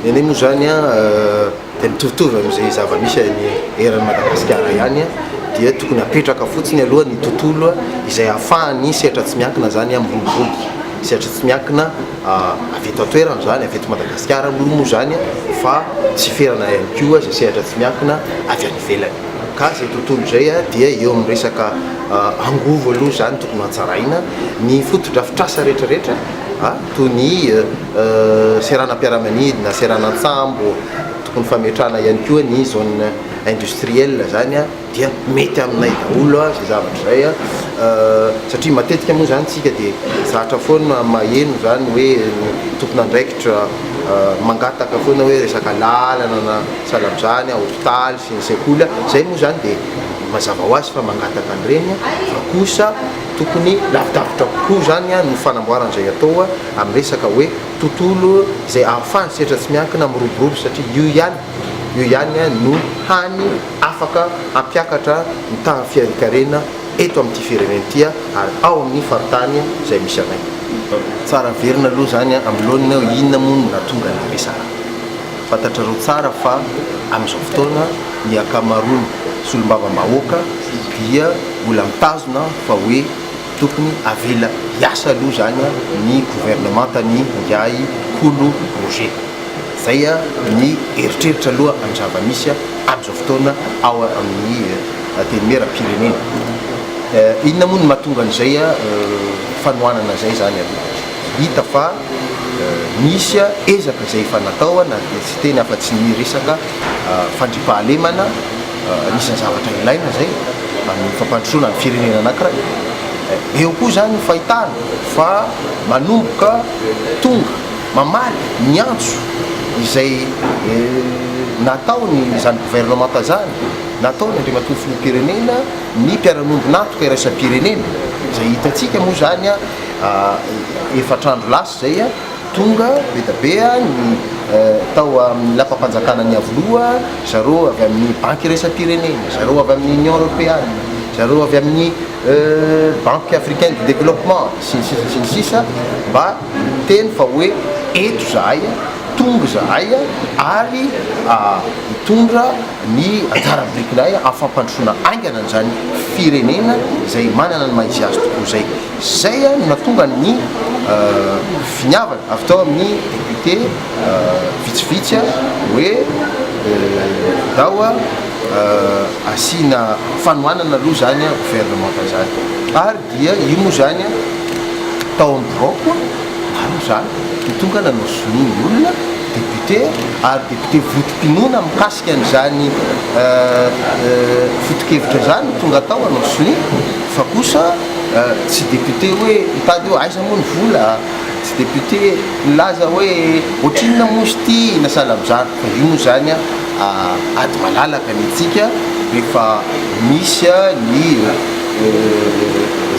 Ny anay moa zany a dia mitovitovy amin'izay zava-misy any eran'i Madagasikara ihany a dia tokony hapetraka fotsiny aloha ny tontolo izay ahafahan'ny sehatra tsy miankina zany a miroborobo sehatra tsy miankina avy eto an-toerana zany avy eto Madagasikara aloha moa zany a fa tsy ferana ihany koa izay sehatra tsy miankina avy any ivelany ka izay tontolo izay a dia eo amin'ny resaka angovo aloha zany tokony hatsaraina ny fotodrafitrasa rehetrarehetra toy ny seranam-piaramanidina, seranan-tsambo, tokony fametrahana ihany koa ny zone industrielle izany dia mety aminay daholo izay zavatra izay satria matetika moa izany isika dia zatra foana maheno izany hoe ny tompon'andraikitra mangataka foana hoe resaka lalana na sahala amin'izany, hopitaly sy ny sekoly, izay moa izany dia mazava ho azy fa mangataka an'ireny fa kosa Tokony lavidavitra kokoa izany no fanamboarana izay atao amin'ny resaka hoe tontolo izay ahafahan'ny setra tsy miankina miroborobo satria io ihany io ihany no hany afaka hampiakatra ny tahan'ny fiainan-karena eto amin'ity firenena ity ary ao amin'ny faritany izay misy anay. Tsara averina aloha izany amin'ny laoniny hoe inona moa no nahatonga ny resaka. Fantatrareo tsara fa amin'izao fotoana ny ankamaroan'ny solombavambahoaka dia mbola mitazona fa hoe tokony avela hiasa aloha izany ny governemantan'ny ingahy Kolo Roger. Izay ny eritreritra aloha amin'ny zava-misy amin'izao fotoana ao amin'ny Antenimierampirenena. Inona moa no mahatonga an'izay fanohanana izay izany aloha? Hita fa nisy ezaka izay efa natao na dia tsy teny afa tsy ny resaka fandriampahalemana, anisan'ny zavatra ilaina izay amin'ny fampandrosoana ny firenena anankiray. Eo koa izany ny fahitana fa manomboka tonga, mamaly, miantso izay nataon'izany governemanta izany, nataony Andriamatoa Filoham-pirenena ny mpiara-miombon'antoka iraisam-pirenena, izay hitantsika moa izany. Efatra andro lasa izay, tonga be dia be ny tao amin'ny Lapam-panjakana Niavoloha, zareo avy amin'ny Banky iraisam-pirenena, zareo avy amin'ny Union Europeana, zareo avy amin'ny Banque Africaine de Développement sy ny sisa sy ny sisa mba niteny fa hoe eto izahay, tonga izahay ary hitondra ny anjara birikinay amin'ny fampandrosoana haingana an'izany firenena izay manana ny maha-izy azy tokoa izay. Izay no nahatonga ny finiavana avy tao amin'ny député vitsivitsy hoe ndao asiana fanohanana aloha izany gouvernement izany. Ary dia io moa izany tao amin'ny biraoko maro izany no tonga nanozonin'ny olona député ary député votom-pinoana mikasika an'izany fotokevitra izany no tonga tao hanao sonia fa kosa Tsy député hoe mitady hoe aiza moa ny vola, tsy député milaza hoe ohatrinona moa izy ity na salabzariko fa io moa izany ady malalaka ny antsika rehefa misy ny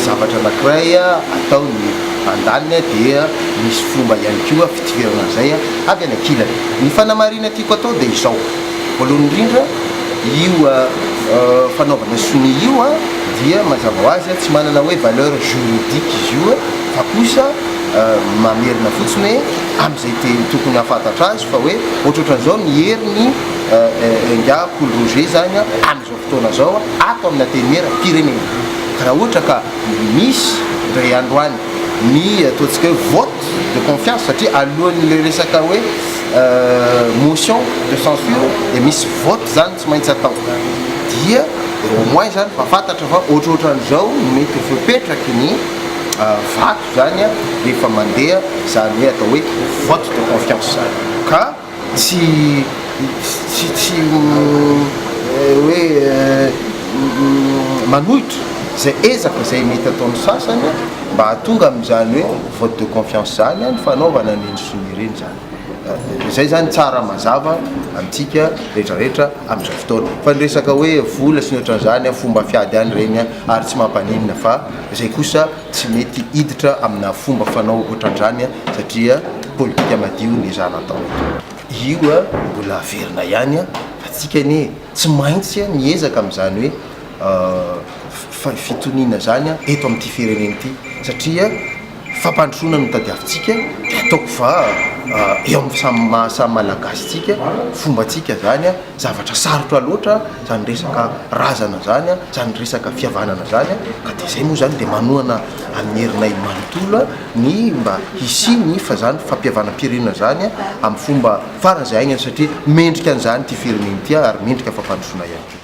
zavatra anankiray atao ny andaniny dia misy fomba ihany koa fitifirana an'izay avy any ankilany. Ny fanamarihana tiako atao dia izao. Voalohany indrindra, io fanaovana sonia io dia mazava ho azy tsy manana hoe valeur juridique izy io fa kosa mamerina fotsiny hoe amin'izay teny tokony hahafantatra azy fa hoe ohatrohatran'izao ny heriny enga Paul Roger izany amin'izao fotoana izao ato amin'ny Antenimiera pirenena. Raha ohatra ka misy indray andro any ny ataontsika hoe vote de confiance satria alohan'ilay resaka hoe motion de censure dia misy vote zany tsy maintsy atao dia au moins zany fa fantatra fa ohatrohatran'izao no mety ho fepetraky ny vato zany a rehefa mandeha zany hoe atao hoe vote de confiance zany ka tsy tsy tsy hoe manohitra zay ezaka zay mety ataon'ny sasany mba hahatonga amin'izany hoe vote de confiance zany a ny fanaovana ny indosony ireny zany Izay izany tsara mazava amintsika rehetra rehetra amin'izao fotoana. Fa ny resaka hoe vola sy ny ohatran'izany, fomba fiady ihany ireny ary tsy mampaninona fa izay kosa tsy mety hiditra amina fomba fanao ohatran'izany satria politika madio ny zana atao. Io mbola averina ihany fa tsika anie tsy maintsy miezaka amin'izany hoe fitoniana izany eto amin'ity firenena ity satria Fampandrosoana no tadiavintsika, ataoko va eo amin'ny samy maha samy Malagasy tsika, fomba tsika zany, zavatra sarotra loatra zany resaka razana zany, zany resaka fihavanana zany, ka de zay moa zany de manohana an'ny herinay manontolo ny mba hisian'ny fa zany fampihavanam-pirenena zany amin'ny fomba faran'izay haingana satria mendrika an'izany ity firenena ity ary mendrika fampandrosoana ihany koa.